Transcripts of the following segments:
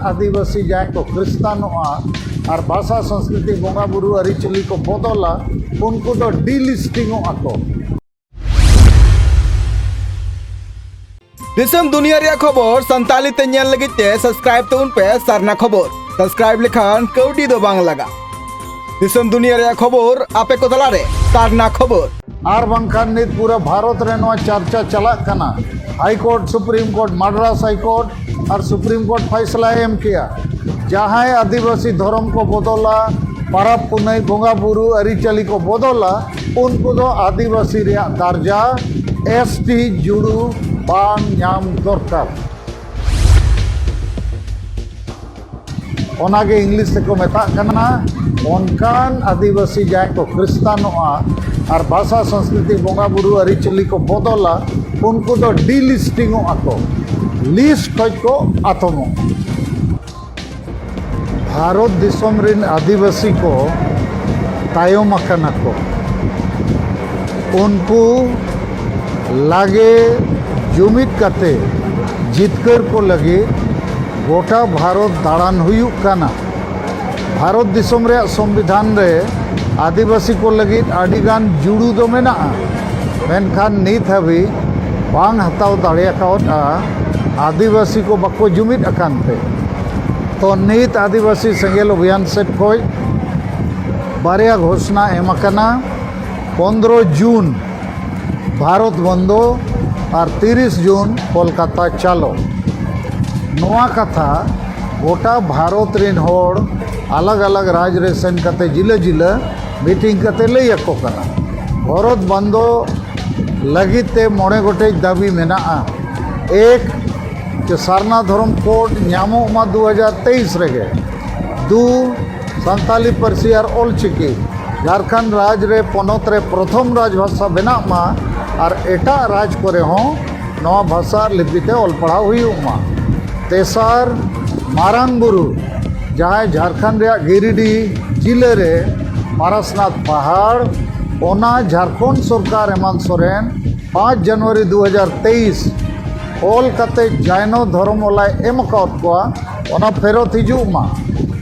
ᱟᱹᱫᱤᱵᱟᱹᱥᱤ ᱡᱟᱦᱟᱸᱭ ᱠᱚ ᱠᱷᱨᱤᱥᱛᱟᱱᱚᱜᱼᱟ ᱟᱨ ᱵᱷᱟᱥᱟ ᱥᱚᱝᱥᱠᱨᱤᱛᱤ ᱵᱚᱸᱜᱟ ᱵᱩᱨᱩ ᱟᱹᱨᱤᱪᱟᱹᱞᱤ ᱠᱚ ᱵᱚᱫᱚᱞᱟ ᱩᱱᱠᱩ ᱫᱚ ᱰᱤᱞᱤᱥᱴᱤᱝᱚᱜᱼᱟ ᱠᱚ ᱫᱤᱥᱚᱢ ᱫᱩᱱᱤᱭᱟᱹ ᱨᱮᱭᱟᱜ ᱠᱷᱚᱵᱚᱨ ᱥᱟᱱᱛᱟᱲᱤ ᱛᱮ ᱧᱮᱞ ᱞᱟᱹᱜᱤᱫ ᱛᱮ ᱥᱟᱵᱥᱠᱨᱟᱭᱤᱵ ᱛᱟᱵᱚᱱ ᱯᱮ ᱥᱟᱨᱱᱟ ᱠᱷᱚᱵᱚᱨ ᱥᱟᱵᱥᱠᱨᱟᱭᱤᱵ ᱞᱮᱠᱷᱟᱱ ᱠᱟᱹᱣᱰᱤ ᱫᱚ ᱵᱟᱝ ᱞᱟᱜᱟᱜᱼᱟ ᱫᱤᱥᱚᱢ ᱫᱩᱱᱤᱭᱟᱹ ᱨᱮᱭᱟᱜ ᱠᱷᱚᱵᱚᱨ ᱟᱯᱮ ᱠᱚ ᱛᱟᱞᱟᱨᱮ ᱠᱟᱨᱱᱟ ᱠᱷᱚᱵᱚᱨ ᱟᱨ ᱵᱟᱝᱠᱷᱟᱱ ᱱᱤᱛ ᱯᱩᱨᱟᱹ ᱵᱷᱟᱨᱚᱛ ᱨᱮ ᱱᱚᱣᱟ ᱪᱟᱨᱪᱟ ᱪᱟᱞᱟᱜ ᱠᱟᱱᱟ high court supreme court Madras high court ᱟᱨ ᱥᱩᱯᱨᱤᱢ ᱠᱳᱨᱴ ᱯᱷᱟᱭᱥᱞᱟ ᱮᱢ ᱠᱮᱜᱼᱟ ᱡᱟᱦᱟᱸᱭ ᱟᱹᱫᱤᱵᱟᱹᱥᱤ ᱫᱷᱚᱨᱚᱢ ᱠᱚ ᱵᱚᱫᱚᱞᱟ ᱯᱟᱨᱟᱵᱽ ᱯᱩᱱᱟᱹᱭ ᱵᱚᱸᱜᱟ ᱵᱩᱨᱩ ᱟᱹᱨᱤᱪᱟᱹᱞᱤ ᱠᱚ ᱵᱚᱫᱚᱞᱟ ᱩᱱᱠᱩ ᱫᱚ ᱟᱹᱫᱤᱵᱟᱹᱥᱤ ᱨᱮᱭᱟᱜ ᱫᱟᱨᱡᱟ ᱮᱥ ᱴᱤ ᱡᱩᱲᱩ ᱵᱟᱝ ᱧᱟᱢ ᱫᱚᱨᱠᱟᱨ ᱚᱱᱟᱜᱮ ᱤᱝᱞᱤᱥ ᱛᱮᱠᱚ ᱢᱮᱛᱟᱜ ᱠᱟᱱᱟ ᱚᱱᱠᱟᱱ ᱟᱹᱫᱤᱵᱟᱹᱥᱤ ᱡᱟᱦᱟᱸᱭ ᱠᱚ ᱠᱷᱨᱤᱥᱛᱟᱱᱚᱜᱼᱟ ᱟᱨ ᱵᱷᱟᱥᱟ ᱥᱚᱝᱥᱠᱨᱤᱛᱤ ᱵᱚᱸᱜᱟ ᱵᱩᱨᱩ ᱟᱹᱨᱤᱪᱟᱹᱞᱤ ᱠᱚ ᱵᱚᱫᱚᱞᱟ ᱩᱱᱠᱩ ᱫᱚ ᱰᱤᱞᱤᱥᱴᱤᱝᱚᱜ ᱟᱠᱚ ᱞᱤᱥᱴ ᱠᱷᱚᱡ ᱠᱚ ᱟᱛᱚᱢᱚᱜ ᱵᱷᱟᱨᱚᱛ ᱫᱤᱥᱚᱢ ᱨᱮᱱ ᱟᱹᱫᱤᱵᱟᱹᱥᱤ ᱠᱚ ᱛᱟᱭᱚᱢ ᱟᱠᱟᱱᱟ ᱠᱚ ᱩᱱᱠᱩ ᱞᱟᱜᱮ ᱡᱩᱢᱤᱫ ᱠᱟᱛᱮ ᱡᱤᱛᱠᱟᱹᱨ ᱠᱚ ᱞᱟᱹᱜᱤᱫ ᱜᱚᱴᱟ ᱵᱷᱟᱨᱚᱛ ᱫᱟᱬᱟᱱ ᱦᱩᱭᱩᱜ ᱠᱟᱱᱟ ᱵᱷᱟᱨᱚᱛ ᱫᱤᱥᱚᱢ ᱨᱮᱭᱟᱜ ᱥᱚᱝᱵᱤᱫᱷᱟᱱ ᱨᱮ ᱟᱹᱫᱤᱵᱟᱹᱥᱤ ᱠᱚ ᱞᱟᱹᱜᱤᱫ ᱟᱹᱰᱤ ᱜᱟᱱ ᱡᱩᱲᱩ ᱫᱚ ᱢᱮᱱᱟᱜᱼᱟ ᱢᱮᱱᱠᱷᱟᱱ ᱱᱤᱛ ᱦᱟᱹᱵᱤᱡ ᱵᱟᱝ ᱦᱟᱛᱟᱣ ᱫᱟᱲᱮ ᱟᱠᱟᱣᱟᱫᱼᱟ ᱟᱹᱫᱤᱵᱟᱹᱥᱤ ᱠᱚ ᱵᱟᱠᱚ ᱡᱩᱢᱤᱫ ᱟᱠᱟᱱ ᱛᱮ ᱛᱚ ᱱᱤᱛ ᱟᱹᱫᱤᱵᱟᱹᱥᱤ ᱥᱮᱸᱜᱮᱞ ᱚᱵᱷᱤᱭᱟᱱ ᱥᱮᱫ ᱠᱷᱚᱱ ᱵᱟᱨᱭᱟ ᱜᱷᱳᱥᱱᱟ ᱮᱢ ᱟᱠᱟᱱᱟ ᱯᱚᱱᱫᱽᱨᱚ ᱡᱩᱱ ᱵᱷᱟᱨᱚᱛ ᱵᱚᱱᱫᱚ ᱟᱨ ᱛᱤᱨᱤᱥ ᱡᱩᱱ ᱠᱚᱞᱠᱟᱛᱟ ᱪᱟᱞᱚ ᱱᱚᱣᱟ ᱠᱟᱛᱷᱟ ᱜᱚᱴᱟ ᱵᱷᱟᱨᱚᱛ ᱨᱮᱱ ᱦᱚᱲ ᱟᱞᱟᱜᱽ ᱟᱞᱟᱜᱽ ᱨᱟᱡᱽ ᱨᱮ ᱥᱮᱱ ᱠᱟᱛᱮ ᱡᱤᱞᱟᱹ ᱡᱤᱞᱟᱹ ᱢᱤᱴᱤᱝ ᱠᱟᱛᱮ ᱞᱟᱹᱭ ᱟᱠᱚ ᱠᱟᱱᱟ ᱵᱷᱟᱨᱚᱛ ᱵᱚᱱᱫᱚ ᱞᱟᱹᱜᱤᱫ ᱛᱮ ᱢᱚᱬᱮ ᱜᱚᱴᱮᱡ ᱫᱟᱹᱵᱤ ᱢᱮᱱᱟᱜᱼᱟ ᱮᱠ ᱡᱮ ᱥᱟᱨᱱᱟ ᱫᱷᱚᱨᱚᱢ ᱠᱳᱰ ᱧᱟᱢᱚᱜ ᱢᱟ ᱫᱩ ᱦᱟᱡᱟᱨ ᱛᱮᱭᱤᱥ ᱨᱮᱜᱮ ᱫᱩ ᱥᱟᱱᱛᱟᱞᱤ ᱯᱟᱹᱨᱥᱤ ᱟᱨ ᱚᱞ ᱪᱤᱠᱤ ᱡᱷᱟᱨᱠᱷᱚᱸᱰ ᱨᱟᱡᱽ ᱨᱮ ᱯᱚᱱᱚᱛ ᱨᱮ ᱯᱨᱚᱛᱷᱚᱢ ᱨᱟᱡᱽ ᱵᱷᱟᱥᱟ ᱵᱮᱱᱟᱜ ᱢᱟ ᱟᱨ ᱮᱴᱟᱜ ᱨᱟᱡᱽ ᱠᱚᱨᱮ ᱦᱚᱸ ᱱᱚᱣᱟ ᱵᱷᱟᱥᱟ ᱟᱨ ᱞᱤᱯᱤ ᱛᱮ ᱚᱞ ᱯᱟᱲᱦᱟᱣ ᱦᱩᱭᱩᱜ ᱢᱟ ᱛᱮᱥᱟᱨ ᱢᱟᱨᱟᱝ ᱵᱩᱨᱩ ᱡᱟᱦᱟᱸᱭ ᱡᱷᱟᱨᱠᱷᱚᱸᱰ ᱨᱮᱭᱟᱜ ᱜᱤᱨᱤᱰᱤ ᱡᱤᱞᱟᱹ ᱨᱮ ᱯᱟᱨᱟᱥᱱᱟᱛᱷ ᱯᱟᱦᱟᱲ ᱚᱱᱟ ᱡᱷᱟᱨᱠᱷᱚᱸᱰ ᱥᱚᱨᱠᱟᱨ ᱦᱮᱢᱟᱱᱛ ᱥᱚᱨᱮᱱ ᱯᱟᱸᱪ ᱡᱟᱱᱩᱣᱟᱨᱤ ᱫᱩ ᱦᱟᱡᱟᱨ ᱛᱮᱭᱤᱥ ᱚᱞ ᱠᱟᱛᱮ ᱡᱟᱭᱱᱚ ᱫᱷᱚᱨᱚᱢ ᱚᱞᱟᱭ ᱮᱢ ᱟᱠᱟᱫ ᱠᱚᱣᱟ ᱚᱱᱟ ᱯᱷᱮᱨᱚᱛ ᱦᱤᱡᱩᱜ ᱢᱟ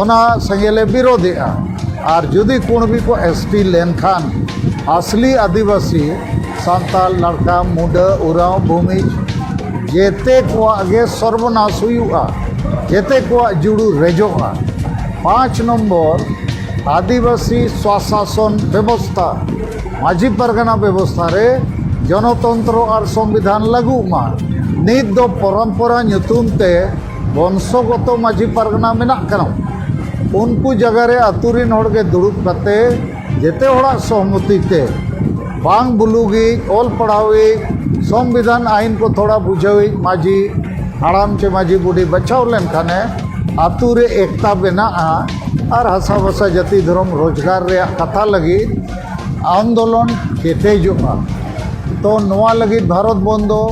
ᱚᱱᱟ ᱥᱮᱸᱜᱮᱞᱮ ᱵᱤᱨᱳᱫᱷᱮᱜᱼᱟ ᱟᱨ ᱡᱩᱫᱤ ᱠᱩᱬᱵᱤ ᱠᱚ ᱮᱥ ᱴᱤ ᱞᱮᱱᱠᱷᱟᱱ ᱟᱥᱞᱤ ᱟᱹᱫᱤᱵᱟᱹᱥᱤ ᱥᱟᱱᱛᱟᱲ ᱞᱟᱲᱠᱟ ᱢᱩᱰᱟᱹ ᱩᱨᱟᱣ ᱵᱷᱩᱢᱤᱡᱽ ᱡᱮᱛᱮ ᱠᱚᱣᱟᱜ ᱜᱮ ᱥᱚᱨᱵᱚᱱᱟᱥ ᱦᱩᱭᱩᱜᱼᱟ ᱡᱮᱛᱮ ᱠᱚᱣᱟᱜ ᱡᱩᱲᱩ ᱨᱮᱡᱚᱜᱼᱟ ᱯᱟᱸᱪ ᱱᱚᱢᱵᱚᱨ ᱟᱹᱫᱤᱵᱟᱹᱥᱤ ᱥᱚᱥᱟᱥᱚᱱ ᱵᱮᱵᱚᱥᱛᱟ ᱢᱟᱹᱡᱷᱤ ᱯᱟᱨᱜᱟᱱᱟ ᱵᱮᱵᱚᱥᱛᱟ ᱨᱮ ᱡᱚᱱᱚᱛᱚᱱᱛᱨᱚ ᱟᱨ ᱥᱚᱝᱵᱤᱫᱷᱟᱱ ᱞᱟᱹᱜᱩᱜ ᱢᱟ ᱱᱤᱛ ᱫᱚ ᱯᱚᱨᱚᱢᱯᱚᱨᱟ ᱧᱩᱛᱩᱢ ᱛᱮ ᱵᱚᱝᱥᱚᱜᱚᱛᱚ ᱢᱟᱹᱡᱷᱤ ᱯᱟᱨᱜᱟᱱᱟ ᱢᱮᱱᱟᱜ ᱠᱟᱱᱟ ᱩᱱᱠᱩ ᱡᱟᱭᱜᱟ ᱨᱮ ᱟᱛᱳ ᱨᱮᱱ ᱦᱚᱲ ᱜᱮ ᱫᱩᱲᱩᱵ ᱠᱟᱛᱮ ᱡᱮᱛᱮ ᱦᱚᱲᱟᱜ ᱥᱚᱦᱚᱢᱚᱛᱤ ᱛᱮ ᱵᱟᱝ ᱵᱩᱞᱩᱜᱤᱡ ᱚᱞ ᱯᱟᱲᱦᱟᱣᱤᱡ ᱥᱚᱝᱵᱤᱫᱷᱟᱱ ᱟᱭᱤᱱ ᱠᱚ ᱛᱷᱚᱲᱟ ᱵᱩᱡᱷᱟᱹᱣᱤᱡ ᱢᱟᱹᱡᱷᱤ ᱦᱟᱲᱟᱢ ᱪᱮ ᱢᱟᱹᱡᱷᱤ ᱵᱩᱰᱷᱤ ᱵᱟᱪᱷᱟᱣ ᱞᱮᱱᱠᱷᱟᱱᱮ ᱟᱛᱳ ᱨᱮ ᱮᱠᱛᱟ ᱵᱮᱱᱟᱜᱼᱟ ᱟᱨ ᱦᱟᱥᱟ ᱵᱷᱟᱥᱟ ᱡᱟᱹᱛᱤ ᱫᱷᱚᱨᱚᱢ ᱨᱳᱡᱽᱜᱟᱨ ᱨᱮᱭᱟᱜ ᱠᱟᱛᱷᱟ ᱞᱟᱹᱜᱤᱫ ᱟᱱᱫᱳᱞᱚᱱ ᱠᱮᱴᱮᱡᱚᱜᱼᱟ ᱛᱚ ᱱᱚᱣᱟ ᱞᱟᱹᱜᱤᱫ ᱵᱷᱟᱨᱚᱛ ᱵᱚᱱᱫᱚ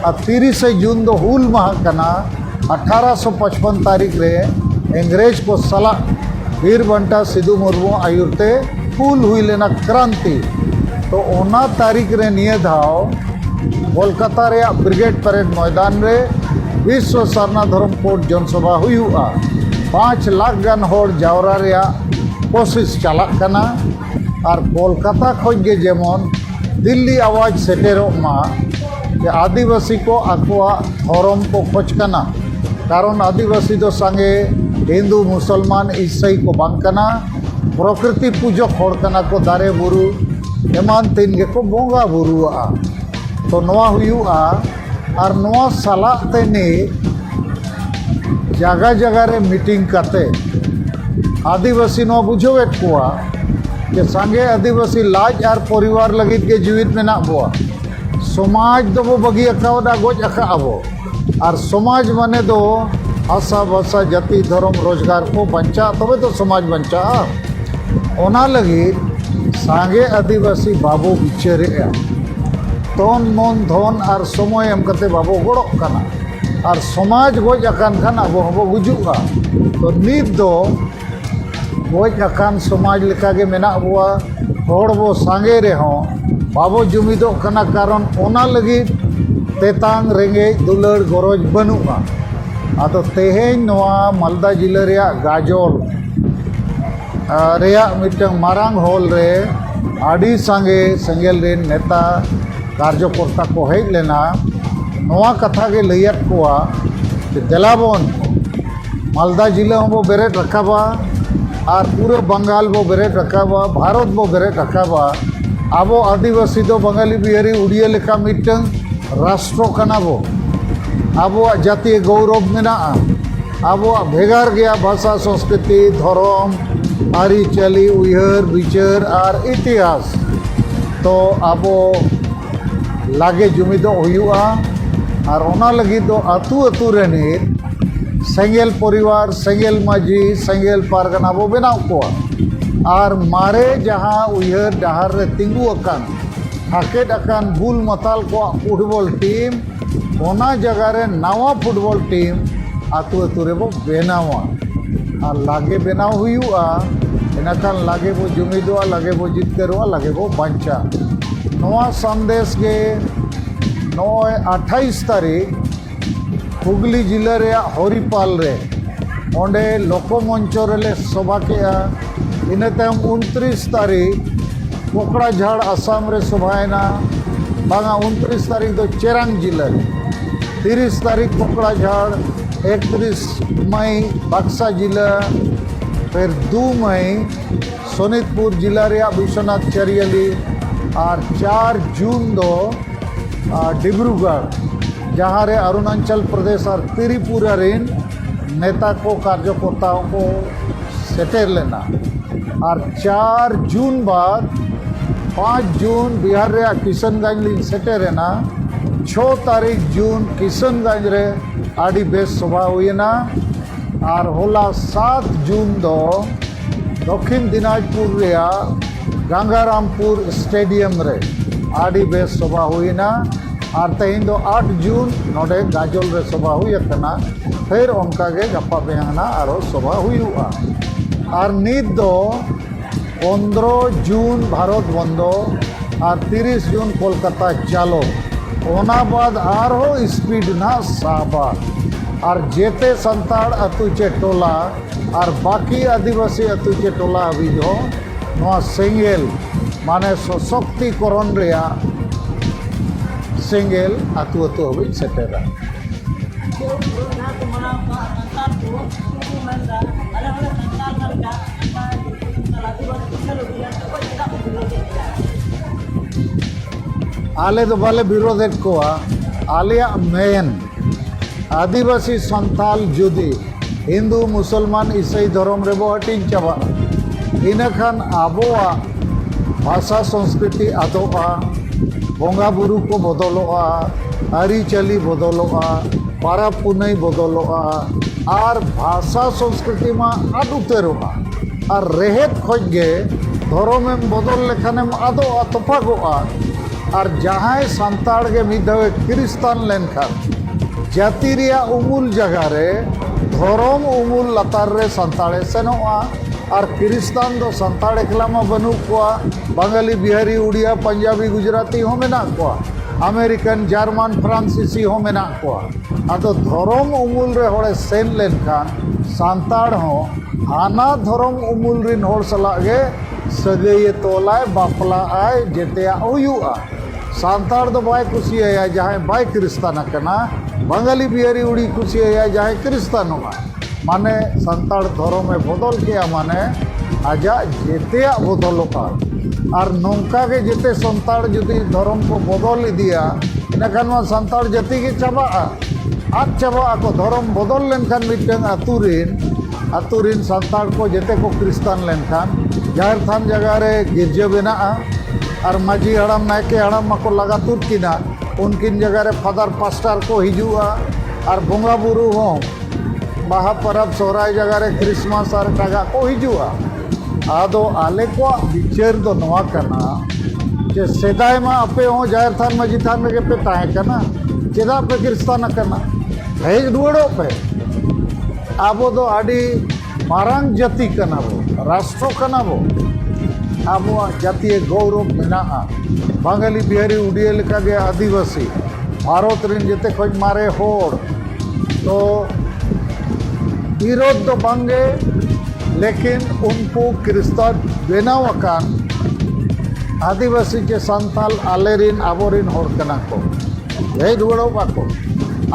ᱟᱨ ᱛᱤᱨᱤᱥᱮ ᱡᱩᱱ ᱫᱚ ᱦᱩᱞ ᱢᱟᱦᱟ ᱠᱟᱱᱟ ᱟᱴᱷᱟᱨᱚ ᱥᱚ ᱯᱟᱸᱪᱯᱚᱱ ᱛᱟᱹᱨᱤᱠᱷ ᱨᱮ ᱤᱝᱨᱮᱡᱽ ᱠᱚ ᱥᱟᱞᱟᱜ ᱵᱤᱨ ᱵᱟᱱᱴᱟ ᱥᱤᱫᱩ ᱢᱩᱨᱢᱩ ᱟᱹᱭᱩᱨ ᱛᱮ ᱦᱩᱞ ᱦᱩᱭ ᱞᱮᱱᱟ ᱠᱨᱟᱱᱛᱤ ᱛᱚ ᱚᱱᱟ ᱛᱟᱹᱨᱤᱠᱷ ᱨᱮ ᱱᱤᱭᱟᱹ ᱫᱷᱟᱣ ᱠᱳᱞᱠᱟᱛᱟ ᱨᱮᱭᱟᱜ ᱵᱨᱤᱜᱮᱰ ᱯᱮᱨᱮᱰ ᱢᱚᱭᱫᱟᱱ ᱨᱮ ᱵᱤᱥᱥᱚ ᱥᱟᱨᱱᱟ ᱫᱷᱚᱨᱚᱢ ᱠᱳᱰ ᱡᱚᱱᱥᱚᱵᱷᱟ ᱦᱩᱭᱩᱜᱼᱟ ᱯᱟᱸᱪ ᱞᱟᱠᱷ ᱜᱟᱱ ᱦᱚᱲ ᱡᱟᱣᱨᱟ ᱨᱮᱭᱟᱜ ᱠᱳᱥᱤᱥ ᱪᱟᱞᱟᱜ ᱠᱟᱱᱟ ᱟᱨ ᱠᱳᱞᱠᱟᱛᱟ ᱠᱷᱚᱱ ᱜᱮ ᱡᱮᱢᱚᱱ ᱫᱤᱞᱞᱤ ᱟᱣᱟᱡᱽ ᱥᱮᱴᱮᱨᱚᱜ ᱢᱟ ᱡᱮ ᱟᱹᱫᱤᱵᱟᱹᱥᱤ ᱠᱚ ᱟᱠᱚᱣᱟᱜ ᱫᱷᱚᱨᱚᱢ ᱠᱚ ᱠᱷᱚᱡᱽ ᱠᱟᱱᱟ ᱠᱟᱨᱚᱱ ᱟᱹᱫᱤᱵᱟᱹᱥᱤ ᱫᱚ ᱥᱟᱸᱜᱮ ᱦᱤᱱᱫᱩ ᱢᱩᱥᱚᱞᱢᱟᱱ ᱤᱥᱟᱹᱭ ᱠᱚ ᱵᱟᱝ ᱠᱟᱱᱟ ᱯᱨᱚᱠᱨᱤᱛᱤ ᱯᱩᱡᱚᱠ ᱦᱚᱲ ᱠᱟᱱᱟ ᱠᱚ ᱫᱟᱨᱮ ᱵᱩᱨᱩ ᱮᱢᱟᱱ ᱛᱮᱱ ᱜᱮᱠᱚ ᱵᱚᱸᱜᱟ ᱵᱩᱨᱩᱣᱟᱜᱼᱟ ᱛᱚ ᱱᱚᱣᱟ ᱦᱩᱭᱩᱜᱼᱟ ᱟᱨ ᱱᱚᱣᱟ ᱥᱟᱞᱟᱜ ᱛᱮ ᱱᱤᱛ ᱡᱟᱭᱜᱟ ᱡᱟᱭᱜᱟ ᱨᱮ ᱢᱤᱴᱤᱝ ᱠᱟᱛᱮ ᱟᱹᱫᱤᱵᱟᱹᱥᱤ ᱱᱚᱣᱟ ᱵᱩᱡᱷᱟᱹᱣᱮᱫ ᱠᱚᱣᱟ ᱡᱮ ᱥᱟᱸᱜᱮ ᱟᱹᱫᱤᱵᱟᱹᱥᱤ ᱞᱟᱡ ᱟᱨ ᱯᱚᱨᱤᱵᱟᱨ ᱞᱟᱹᱜᱤᱫ ᱜᱮ ᱡᱤᱣᱤᱫ ᱢᱮᱱᱟᱜ ᱵᱚᱣᱟ ᱥᱚᱢᱟᱡᱽ ᱫᱚᱵᱚ ᱵᱟᱹᱜᱤ ᱟᱠᱟᱣᱫᱟ ᱜᱚᱡ ᱟᱠᱟᱫ ᱟᱵᱚ ᱟᱨ ᱥᱚᱢᱟᱡᱽ ᱢᱟᱱᱮ ᱫᱚ ᱟᱥᱟ ᱵᱷᱟᱥᱟ ᱡᱟᱹᱛᱤ ᱫᱷᱚᱨᱚᱢ ᱨᱳᱡᱽᱜᱟᱨ ᱠᱚ ᱵᱟᱧᱪᱟᱜᱼᱟ ᱛᱚᱵᱮ ᱛᱚ ᱥᱚᱢᱟᱡᱽ ᱵᱟᱧᱪᱟᱜᱼᱟ ᱚᱱᱟ ᱞᱟᱹᱜᱤᱫ ᱥᱟᱸᱜᱮ ᱟᱹᱫᱤᱵᱟᱹᱥᱤ ᱵᱟᱵᱚ ᱵᱤᱪᱟᱹᱨᱮᱫᱼᱟ ᱛᱚᱱ ᱢᱚᱱ ᱫᱷᱚᱱ ᱟᱨ ᱥᱚᱢᱚᱭ ᱮᱢ ᱠᱟᱛᱮ ᱵᱟᱵᱚ ᱜᱚᱲᱚᱜ ᱠᱟᱱᱟ ᱟᱨ ᱥᱚᱢᱟᱡᱽ ᱜᱚᱡ ᱟᱠᱟᱱ ᱠᱷᱟᱱ ᱟᱵᱚ ᱦᱚᱸᱵᱚ ᱜᱩᱡᱩᱜᱼᱟ ᱛᱚ ᱱᱤᱛ ᱫᱚ ᱜᱚᱡ ᱟᱠᱟᱱ ᱥᱚᱢᱟᱡᱽ ᱞᱮᱠᱟᱜᱮ ᱢᱮᱱᱟᱜ ᱵᱚᱣᱟ ᱦᱚᱲ ᱵᱚ ᱥᱟᱸᱜᱮ ᱨᱮᱦᱚᱸ ᱵᱟᱵᱚ ᱡᱩᱢᱤᱫᱚᱜ ᱠᱟᱱᱟ ᱠᱟᱨᱚᱱ ᱚᱱᱟ ᱞᱟᱹᱜᱤᱫ ᱛᱮᱛᱟᱝ ᱨᱮᱸᱜᱮᱡ ᱫᱩᱞᱟᱹᱲ ᱜᱚᱨᱚᱡᱽ ᱵᱟᱹᱱᱩᱜᱼᱟ ᱟᱫᱚ ᱛᱮᱦᱮᱧ ᱱᱚᱣᱟ ᱢᱟᱞᱫᱟ ᱡᱮᱞᱟ ᱨᱮᱭᱟᱜ ᱜᱟᱡᱚᱞ ᱨᱮᱭᱟᱜ ᱢᱤᱫᱴᱟᱝ ᱢᱟᱨᱟᱝ ᱦᱚᱞ ᱨᱮ ᱟᱹᱰᱤ ᱥᱟᱸᱜᱮ ᱥᱮᱸᱜᱮᱞ ᱨᱮᱱ ᱱᱮᱛᱟ ᱠᱟᱨᱡᱚ ᱠᱚᱨᱛᱟ ᱠᱚ ᱦᱮᱡ ᱞᱮᱱᱟ ᱱᱚᱣᱟ ᱠᱟᱛᱷᱟ ᱜᱮ ᱞᱟᱹᱭᱟᱫ ᱠᱚᱣᱟ ᱡᱮ ᱫᱮᱞᱟ ᱵᱚᱱ ᱢᱟᱞᱫᱟ ᱡᱮᱞᱟ ᱦᱚᱸᱵᱚ ᱵᱮᱨᱮᱫ ᱨᱟᱠᱟᱵᱟ ᱟᱨ ᱯᱩᱨᱟᱹ ᱵᱟᱝᱜᱟᱞ ᱵᱚ ᱵᱮᱨᱮᱫ ᱨᱟᱠᱟᱵᱟ ᱵᱷᱟᱨᱚᱛ ᱵᱚ ᱵᱮᱨᱮᱫ ᱨᱟᱠᱟᱵᱟ ᱟᱵᱚ ᱟᱹᱫᱤᱵᱟᱹᱥᱤ ᱫᱚ ᱵᱟᱝᱜᱟᱞᱤ ᱵᱤᱦᱟᱨᱤ ᱩᱰᱤᱭᱟᱹ ᱞᱮᱠᱟ ᱢᱤᱫᱴᱟᱝ ᱨᱟᱥᱴᱨᱚ ᱠᱟᱱᱟ ᱵᱚ ᱟᱵᱚᱣᱟᱜ ᱡᱟᱹᱛᱤᱭᱚ ᱜᱳᱣᱨᱚᱵᱽ ᱢᱮᱱᱟᱜᱼᱟ ᱟᱵᱚᱣᱟᱜ ᱵᱷᱮᱜᱟᱨ ᱜᱮᱭᱟ ᱵᱷᱟᱥᱟ ᱥᱚᱸᱥᱠᱨᱤᱛᱤ ᱫᱷᱚᱨᱚᱢ ᱟᱹᱨᱤᱪᱟᱹᱞᱤ ᱩᱭᱦᱟᱹᱨ ᱵᱤᱪᱟᱹᱨ ᱟᱨ ᱤᱛᱤᱦᱟᱥ ᱛᱚ ᱟᱵᱚ ᱞᱟᱜᱮ ᱡᱩᱢᱤᱫᱚᱜ ᱦᱩᱭᱩᱜᱼᱟ ᱟᱨ ᱚᱱᱟ ᱞᱟᱹᱜᱤᱫ ᱫᱚ ᱟᱹᱛᱩ ᱟᱹᱛᱩ ᱨᱤᱱᱤᱡ ᱥᱮᱸᱜᱮᱞ ᱯᱚᱨᱤᱵᱟᱨ ᱥᱮᱸᱜᱮᱞ ᱢᱟᱺᱡᱷᱤ ᱥᱮᱸᱜᱮᱞ ᱯᱟᱨᱜᱟᱱᱟ ᱵᱚ ᱵᱮᱱᱟᱣ ᱠᱚᱣᱟ ᱟᱨ ᱢᱟᱨᱮ ᱡᱟᱦᱟᱸ ᱩᱭᱦᱟᱹᱨ ᱰᱟᱦᱟᱨ ᱨᱮ ᱛᱤᱸᱜᱩ ᱟᱠᱟᱱ ᱦᱟᱠᱮᱫ ᱟᱠᱟᱱ ᱵᱩᱞ ᱢᱟᱛᱟᱞ ᱠᱚᱣᱟᱜ ᱯᱷᱩᱴᱵᱚᱞ ᱴᱤᱢ ᱚᱱᱟ ᱡᱟᱭᱜᱟ ᱨᱮ ᱱᱟᱣᱟ ᱯᱷᱩᱴᱵᱚᱞ ᱴᱤᱢ ᱟᱛᱳ ᱟᱛᱳ ᱨᱮᱵᱚ ᱵᱮᱱᱟᱣᱟ ᱟᱨ ᱞᱟᱜᱮ ᱵᱮᱱᱟᱣ ᱦᱩᱭᱩᱜᱼᱟ ᱤᱱᱟᱹᱠᱷᱟᱱ ᱞᱟᱜᱮ ᱵᱚ ᱡᱩᱢᱤᱫᱚᱜᱼᱟ ᱞᱟᱜᱮ ᱵᱚ ᱡᱤᱛᱠᱟᱹᱨᱚᱜᱼᱟ ᱞᱟᱜᱮ ᱵᱚ ᱵᱟᱧᱪᱟᱜᱼᱟ ᱱᱚᱣᱟ ᱥᱟᱸᱫᱮᱥ ᱜᱮ ᱱᱚᱜᱼᱚᱭ ᱟᱴᱷᱟᱭᱤᱥ ᱛᱟᱹᱨᱤᱠᱷ ᱦᱩᱜᱽᱞᱤ ᱡᱮᱞᱟ ᱨᱮᱭᱟᱜ ᱦᱚᱨᱤᱯᱟᱞ ᱨᱮ ᱚᱸᱰᱮ ᱞᱳᱠᱚ ᱢᱚᱧᱪᱚ ᱨᱮᱞᱮ ᱥᱚᱵᱷᱟ ᱠᱮᱜᱼᱟ ᱤᱱᱟᱹ ᱛᱟᱭᱚᱢ ᱩᱱᱛᱨᱤᱥ ᱛᱟᱹᱨᱤᱠᱷ ᱠᱚᱠᱲᱟ ᱡᱷᱟᱲ ᱟᱥᱟᱢ ᱨᱮ ᱥᱚᱵᱷᱟᱭᱮᱱᱟ ᱵᱟᱝᱟ ᱩᱱᱛᱨᱤᱥ ᱛᱟᱹᱨᱤᱠᱷ ᱫᱚ ᱪᱮᱨᱟᱝ ᱡᱤᱞᱟᱹ ᱨᱮ ᱛᱤᱨᱤᱥ ᱛᱟᱹᱨᱤᱠᱷ ᱠᱚᱠᱲᱟ ᱡᱷᱟᱲ ᱮᱠᱛᱨᱤᱥ ᱢᱟᱹᱭ ᱵᱟᱠᱥᱟ ᱡᱤᱞᱟᱹ ᱯᱷᱮᱨ ᱫᱩ ᱢᱟᱹᱭ ᱥᱚᱱᱤᱛᱯᱩᱨ ᱡᱤᱞᱟᱹ ᱨᱮᱭᱟᱜ ᱵᱤᱥᱣᱚᱱᱟᱛᱷ ᱪᱟᱹᱨᱤᱭᱟᱞᱤ ᱟᱨ ᱪᱟᱨ ᱡᱩᱱ ᱫᱚ ᱰᱤᱵᱽᱨᱩᱜᱚᱲ ᱡᱟᱦᱟᱸ ᱨᱮ ᱚᱨᱩᱱᱟᱪᱚᱞ ᱯᱨᱚᱫᱮᱥ ᱟᱨ ᱛᱨᱤᱯᱩᱨᱟ ᱨᱮᱱ ᱱᱮᱛᱟ ᱠᱚ ᱠᱟᱨᱡᱚᱠᱚᱨᱛᱟ ᱠᱚ ᱥᱮᱴᱮᱨ ᱞᱮᱱᱟ ᱟᱨ ᱪᱟᱨ ᱡᱩᱱ ᱵᱟᱫ ᱯᱟᱸᱪ ᱡᱩᱱ ᱵᱤᱦᱟᱨ ᱨᱮᱭᱟᱜ ᱠᱤᱥᱟᱱᱜᱚᱸᱡᱽ ᱞᱤᱧ ᱥᱮᱴᱮᱨᱮᱱᱟ ᱪᱷᱚ ᱛᱟᱹᱨᱤᱠᱷ ᱡᱩᱱ ᱠᱤᱥᱟᱱᱜᱚᱸᱡᱽ ᱨᱮ ᱟᱹᱰᱤ ᱵᱮᱥ ᱥᱚᱵᱷᱟ ᱦᱩᱭᱮᱱᱟ ᱟᱨ ᱦᱚᱞᱟ ᱥᱟᱛ ᱡᱩᱱ ᱫᱚ ᱫᱚᱠᱠᱷᱤᱱ ᱫᱤᱱᱟᱡᱽᱯᱩᱨ ᱨᱮᱭᱟᱜ ᱜᱟᱝᱜᱟᱨᱟᱢᱯᱩᱨ ᱥᱴᱮᱰᱤᱭᱟᱢ ᱨᱮ ᱟᱹᱰᱤ ᱵᱮᱥ ᱥᱚᱵᱷᱟ ᱦᱩᱭᱮᱱᱟ ᱟᱨ ᱛᱮᱦᱮᱧ ᱫᱚ ᱟᱴ ᱡᱩᱱ ᱱᱚᱰᱮ ᱜᱟᱡᱚᱞ ᱨᱮ ᱥᱚᱵᱷᱟ ᱦᱩᱭ ᱟᱠᱟᱱᱟ ᱯᱷᱮᱨ ᱚᱱᱠᱟ ᱜᱮ ᱜᱟᱯᱟ ᱢᱮᱭᱟᱝ ᱱᱟᱜ ᱟᱨᱚ ᱥᱚᱵᱷᱟ ᱦᱩᱭᱩᱜᱼᱟ ᱟᱨ ᱱᱤᱛ ᱫᱚ ᱯᱚᱱᱫᱨᱚ ᱡᱩᱱ ᱵᱷᱟᱨᱚᱛ ᱵᱚᱱᱫᱚ ᱟᱨ ᱛᱤᱨᱤᱥ ᱡᱩᱱ ᱠᱳᱞᱠᱟᱛᱟ ᱪᱟᱞᱚ ᱚᱱᱟ ᱵᱟᱫ ᱟᱨᱦᱚᱸ ᱥᱯᱤᱰ ᱱᱟᱜ ᱥᱟᱵᱟ ᱟᱨ ᱡᱮᱛᱮ ᱥᱟᱱᱛᱟᱲ ᱟᱹᱛᱩ ᱪᱮ ᱴᱚᱞᱟ ᱟᱨ ᱵᱟᱹᱠᱤ ᱟᱹᱫᱤᱵᱟᱹᱥᱤ ᱟᱹᱛᱩ ᱪᱮ ᱴᱚᱞᱟ ᱦᱟᱹᱵᱤᱡ ᱦᱚᱸ ᱱᱚᱣᱟ ᱥᱮᱸᱜᱮᱞ ᱢᱟᱱᱮ ᱥᱚᱥᱚᱠᱛᱤᱠᱚᱨᱚᱱ ᱨᱮᱭᱟᱜ ᱥᱮᱸᱜᱮᱞ ᱟᱹᱛᱩ ᱟᱹᱛᱩ ᱦᱟᱹᱵᱤᱡ ᱥᱮᱴᱮᱨᱟ ᱟᱞᱮ ᱫᱚ ᱵᱟᱞᱮ ᱵᱤᱨᱳᱫᱮᱫ ᱠᱚᱣᱟ ᱟᱞᱮᱭᱟᱜ ᱢᱮᱱ ᱟᱹᱫᱤᱵᱟᱹᱥᱤ ᱥᱟᱱᱛᱟᱞ ᱡᱩᱫᱤ ᱦᱤᱱᱫᱩ ᱢᱩᱥᱚᱞᱢᱟᱱ ᱤᱥᱟᱹᱭ ᱫᱷᱚᱨᱚᱢ ᱨᱮᱵᱚ ᱦᱟᱹᱴᱤᱧ ᱪᱟᱵᱟᱜᱼᱟ ᱤᱱᱟᱹ ᱠᱷᱟᱱ ᱟᱵᱚᱣᱟᱜ ᱵᱷᱟᱥᱟ ᱥᱚᱝᱥᱠᱨᱤᱛᱤ ᱟᱫᱚᱜᱼᱟ ᱵᱚᱸᱜᱟ ᱵᱩᱨᱩ ᱠᱚ ᱵᱚᱫᱚᱞᱚᱜᱼᱟ ᱟᱹᱨᱤᱪᱟᱹᱞᱤ ᱵᱚᱫᱚᱞᱚᱜᱼᱟ ᱯᱟᱨᱟᱵᱽ ᱯᱩᱱᱟᱹᱭ ᱵᱚᱫᱚᱞᱚᱜᱼᱟ ᱟᱨ ᱵᱷᱟᱥᱟ ᱥᱚᱝᱥᱠᱨᱤᱛᱤ ᱢᱟ ᱟᱫ ᱩᱛᱟᱹᱨᱚᱜᱼᱟ ᱟᱨ ᱨᱮᱦᱮᱫ ᱠᱷᱚᱡ ᱜᱮ ᱫᱷᱚᱨᱚᱢᱮᱢ ᱵᱚᱫᱚᱞ ᱞᱮᱠᱷᱟᱱᱮᱢ ᱟᱫᱚᱜᱼᱟ ᱛᱚᱯᱟᱜᱚᱜᱼᱟ ᱟᱨ ᱡᱟᱦᱟᱸᱭ ᱥᱟᱱᱛᱟᱲ ᱜᱮ ᱢᱤᱫ ᱫᱷᱟᱣᱮ ᱠᱷᱤᱨᱤᱥᱛᱟᱱ ᱞᱮᱱᱠᱷᱟᱱ ᱡᱟᱹᱛᱤ ᱨᱮᱭᱟᱜ ᱩᱢᱩᱞ ᱡᱟᱭᱜᱟ ᱨᱮ ᱫᱷᱚᱨᱚᱢ ᱩᱢᱩᱞ ᱞᱟᱛᱟᱨ ᱨᱮ ᱥᱟᱱᱛᱟᱲᱮ ᱥᱮᱱᱚᱜᱼᱟ ᱟᱨ ᱠᱷᱤᱨᱤᱥᱛᱟᱱ ᱫᱚ ᱥᱟᱱᱛᱟᱲ ᱮᱠᱞᱟ ᱢᱟ ᱵᱟᱹᱱᱩᱜ ᱠᱚᱣᱟ ᱵᱟᱝᱜᱟᱞᱤ ᱵᱤᱦᱟᱨᱤ ᱩᱲᱤᱭᱟ ᱯᱟᱧᱡᱟᱵᱤ ᱜᱩᱡᱽᱨᱟᱛᱤ ᱦᱚᱸ ᱢᱮᱱᱟᱜ ᱠᱚᱣᱟ ᱟᱢᱮᱨᱤᱠᱟᱱ ᱡᱟᱨᱢᱟᱱ ᱯᱷᱨᱟᱱᱥᱤᱥᱤ ᱦᱚᱸ ᱢᱮᱱᱟᱜ ᱠᱚᱣᱟ ᱟᱫᱚ ᱫᱷᱚᱨᱚᱢ ᱩᱢᱩᱞ ᱨᱮ ᱦᱚᱲᱮ ᱥᱮᱱ ᱞᱮᱱᱠᱷᱟᱱ ᱥᱟᱱᱛᱟᱲ ᱦᱚᱸ ᱦᱟᱱᱟ ᱫᱷᱚᱨᱚᱢ ᱩᱢᱩᱞ ᱨᱮᱱ ᱦᱚᱲ ᱥᱟᱞᱟᱜ ᱜᱮ ᱥᱟᱹᱜᱟᱹᱭᱮ ᱛᱚᱞᱟᱭ ᱵᱟᱯᱞᱟᱜᱼᱟᱭ ᱡᱮᱛᱮᱭᱟᱜ ᱦᱩᱭᱩᱜᱼᱟ ᱥᱟᱱᱛᱟᱲ ᱫᱚ ᱵᱟᱭ ᱠᱩᱥᱤᱭᱟᱭᱟ ᱡᱟᱦᱟᱸᱭ ᱵᱟᱭ ᱠᱨᱤᱥᱛᱟᱱ ᱟᱠᱟᱱᱟ ᱵᱟᱝᱜᱟᱞᱤ ᱵᱤᱦᱟᱨᱤ ᱩᱲᱤ ᱠᱩᱥᱤᱭᱟᱭᱟ ᱡᱟᱦᱟᱸᱭ ᱠᱨᱤᱥᱛᱟᱱᱚᱜᱼᱟ ᱢᱟᱱᱮ ᱥᱟᱱᱛᱟᱲ ᱫᱷᱚᱨᱚᱢᱮ ᱵᱚᱫᱚᱞ ᱠᱮᱜᱼᱟ ᱢᱟᱱᱮ ᱟᱡᱟᱜ ᱡᱮᱛᱮᱭᱟᱜ ᱵᱚᱫᱚᱞᱚᱜᱼᱟ ᱟᱨ ᱱᱚᱝᱠᱟ ᱜᱮ ᱡᱮᱛᱮ ᱥᱟᱱᱛᱟᱲ ᱡᱩᱫᱤ ᱫᱷᱚᱨᱚᱢ ᱠᱚ ᱵᱚᱫᱚᱞ ᱤᱫᱤᱭᱟ ᱤᱱᱟᱹᱠᱷᱟᱱ ᱱᱚᱣᱟ ᱥᱟᱱᱛᱟᱲ ᱡᱟᱹᱛᱤ ᱜᱮ ᱪᱟᱵᱟᱜᱼᱟ ᱟᱫ ᱪᱟᱵᱟᱜ ᱟᱠᱚ ᱫᱷᱚᱨᱚᱢ ᱵᱚᱫᱚᱞ ᱞᱮᱱᱠᱷᱟᱱ ᱢᱤᱫᱴᱟᱝ ᱟᱛᱳ ᱨᱮᱱ ᱟᱛᱳ ᱨᱤᱱ ᱥᱟᱱᱛᱟᱲ ᱠᱚ ᱡᱮᱛᱮ ᱠᱚ ᱠᱨᱤᱥᱛᱟᱱ ᱞᱮᱱᱠᱷᱟᱱ ᱡᱟᱦᱮᱨ ᱛᱷᱟᱱ ᱡᱟᱭᱜᱟ ᱨᱮ ᱜᱤᱨᱡᱟᱹ ᱵᱮᱱᱟᱜᱼᱟ ᱟᱨ ᱢᱟᱹᱡᱷᱤ ᱦᱟᱲᱟᱢ ᱱᱟᱭᱠᱮ ᱦᱟᱲᱟᱢ ᱢᱟᱠᱚ ᱞᱟᱜᱟ ᱛᱩᱫ ᱠᱤᱱᱟ ᱩᱱᱠᱤᱱ ᱡᱟᱭᱜᱟ ᱨᱮ ᱯᱷᱟᱫᱟᱨ ᱯᱟᱥᱴᱟᱨ ᱠᱚ ᱦᱤᱡᱩᱜᱼᱟ ᱟᱨ ᱵᱚᱸᱜᱟ ᱵᱩᱨᱩ ᱦᱚᱸ ᱵᱟᱦᱟ ᱯᱚᱨᱚᱵᱽ ᱥᱚᱦᱨᱟᱭ ᱡᱟᱭᱜᱟ ᱨᱮ ᱠᱨᱤᱥᱢᱟᱥ ᱟᱨ ᱮᱴᱟᱜᱟᱜ ᱠᱚ ᱦᱤᱡᱩᱜᱼᱟ ᱟᱫᱚ ᱟᱞᱮ ᱠᱚᱣᱟᱜ ᱵᱤᱪᱟᱹᱨ ᱫᱚ ᱱᱚᱣᱟ ᱠᱟᱱᱟ ᱡᱮ ᱥᱮᱫᱟᱭ ᱢᱟ ᱟᱯᱮ ᱦᱚᱸ ᱡᱟᱦᱮᱨ ᱛᱷᱟᱱ ᱢᱟᱹᱡᱷᱤ ᱛᱷᱟᱱ ᱨᱮᱜᱮ ᱯᱮ ᱛᱟᱦᱮᱸ ᱠᱟᱱᱟ ᱪᱮᱫᱟᱜ ᱯᱮ ᱠᱨᱤᱥᱛᱟᱱ ᱟᱠᱟᱱᱟ ᱦᱮᱡ ᱨᱩᱣᱟᱹᱲᱚᱜ ᱯᱮ ᱟᱵᱚ ᱫᱚ ᱟᱹᱰᱤ ᱢᱟᱨᱟᱝ ᱡᱟᱹᱛᱤ ᱠᱟᱱᱟ ᱵᱚ ᱨᱟᱥᱴᱨᱚ ᱠᱟᱱᱟ ᱵᱚ ᱟᱵᱚᱣᱟᱜ ᱡᱟᱹᱛᱤᱭᱟᱹ ᱜᱚᱣᱨᱚᱵ ᱢᱮᱱᱟᱜᱼᱟ ᱵᱟᱝᱜᱟᱞᱤ ᱵᱤᱦᱟᱨᱤ ᱩᱰᱤᱭᱟᱹ ᱞᱮᱠᱟᱜᱮ ᱟᱹᱫᱤᱵᱟᱹᱥᱤ ᱵᱷᱟᱨᱚᱛ ᱨᱮᱱ ᱡᱮᱛᱮ ᱠᱷᱚᱱ ᱢᱟᱨᱮ ᱦᱚᱲ ᱛᱚ ᱵᱤᱨᱳᱫᱷ ᱫᱚ ᱵᱟᱝᱜᱮ ᱞᱮᱠᱤᱱ ᱩᱱᱠᱩ ᱠᱨᱤᱥᱛᱟᱱ ᱵᱮᱱᱟᱣ ᱟᱠᱟᱱ ᱟᱹᱫᱤᱵᱟᱹᱥᱤ ᱪᱮ ᱥᱟᱱᱛᱟᱞ ᱟᱞᱮ ᱨᱮᱱ ᱟᱵᱚ ᱨᱮᱱ ᱦᱚᱲ ᱠᱟᱱᱟ ᱠᱚ ᱦᱮᱡ ᱨᱩᱣᱟᱹᱲᱚᱜ ᱵᱟᱠᱚ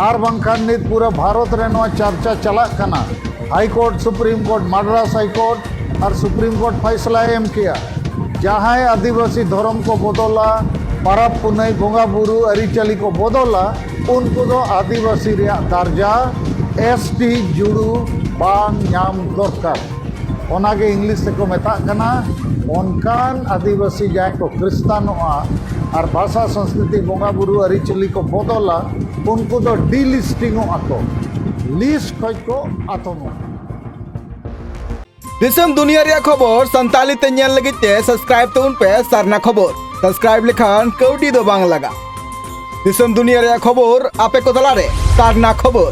ᱟᱨ ᱵᱟᱝᱠᱷᱟᱱ ᱱᱤᱛ ᱯᱩᱨᱟᱹ ᱵᱷᱟᱨᱚᱛ ᱨᱮ ᱱᱚᱣᱟ ᱪᱟᱨᱪᱟ ᱪᱟᱞᱟᱜ ᱠᱟᱱᱟ high court supreme court Madras high court ᱟᱨ ᱥᱩᱯᱨᱤᱢ ᱠᱳᱨᱴ ᱯᱷᱟᱭᱥᱞᱟᱭ ᱮᱢ ᱠᱮᱜᱼᱟ ᱡᱟᱦᱟᱸᱭ ᱟᱹᱫᱤᱵᱟᱹᱥᱤ ᱫᱷᱚᱨᱚᱢ ᱠᱚ ᱵᱚᱫᱚᱞᱟ ᱯᱟᱨᱟᱵᱽ ᱯᱩᱱᱟᱹᱭ ᱵᱚᱸᱜᱟ ᱵᱩᱨᱩ ᱟᱹᱨᱤᱪᱟᱹᱞᱤ ᱠᱚ ᱵᱚᱫᱚᱞᱟ ᱩᱱᱠᱩ ᱫᱚ ᱟᱹᱫᱤᱵᱟᱹᱥᱤ ᱨᱮᱭᱟᱜ ᱫᱟᱨᱡᱟ ᱮᱥ ᱴᱤ ᱡᱩᱲᱩ ᱵᱟᱝ ᱧᱟᱢ ᱫᱚᱨᱠᱟᱨ ᱚᱱᱟᱜᱮ ᱤᱝᱞᱤᱥ ᱛᱮᱠᱚ ᱢᱮᱛᱟᱜ ᱠᱟᱱᱟ ᱚᱱᱠᱟᱱ ᱟᱹᱫᱤᱵᱟᱹᱥᱤ ᱡᱟᱦᱟᱸᱭ ᱠᱚ ᱠᱷᱨᱤᱥᱛᱟᱱᱚᱜᱼᱟ ᱟᱨ ᱵᱷᱟᱥᱟ ᱥᱚᱝᱥᱠᱨᱤᱛᱤ ᱵᱚᱸᱜᱟ ᱵᱩᱨᱩ ᱟᱹᱨᱤᱪᱟᱹᱞᱤ ᱠᱚ ᱵᱚᱫᱚᱞᱟ ᱩᱱᱠᱩ ᱫᱚ ᱰᱤᱞᱤᱥᱴᱤᱝᱚᱜᱼᱟ ᱠᱚ ᱞᱤᱥᱴ ᱠᱷᱚᱡ ᱠᱚ ᱟᱛᱚᱢᱚᱜᱼᱟ ᱫᱤᱥᱚᱢ ᱫᱩᱱᱤᱭᱟᱹ ᱨᱮᱭᱟᱜ ᱠᱷᱚᱵᱚᱨ ᱥᱟᱱᱛᱟᱞᱤ ᱛᱮ ᱧᱮᱞ ᱞᱟᱹᱜᱤᱫ ᱛᱮ ᱥᱟᱵᱥᱠᱨᱟᱭᱤᱵ ᱛᱟᱵᱚᱱ ᱯᱮ ᱥᱟᱨᱱᱟ ᱠᱷᱚᱵᱚᱨ ᱥᱟᱵᱥᱠᱨᱟᱭᱤᱵ ᱞᱮᱠᱷᱟᱱ ᱠᱟᱹᱣᱰᱤ ᱫᱚ ᱵᱟᱝ ᱞᱟᱜᱟ ᱫᱤᱥᱚᱢ ᱫᱩᱱᱤᱭᱟᱹ ᱨᱮᱭᱟᱜ ᱠᱷᱚᱵᱚᱨ ᱟᱯᱮ ᱠᱚ ᱛᱟᱞᱟᱨᱮ ᱥᱟᱨᱱᱟ ᱠᱷᱚᱵᱚᱨ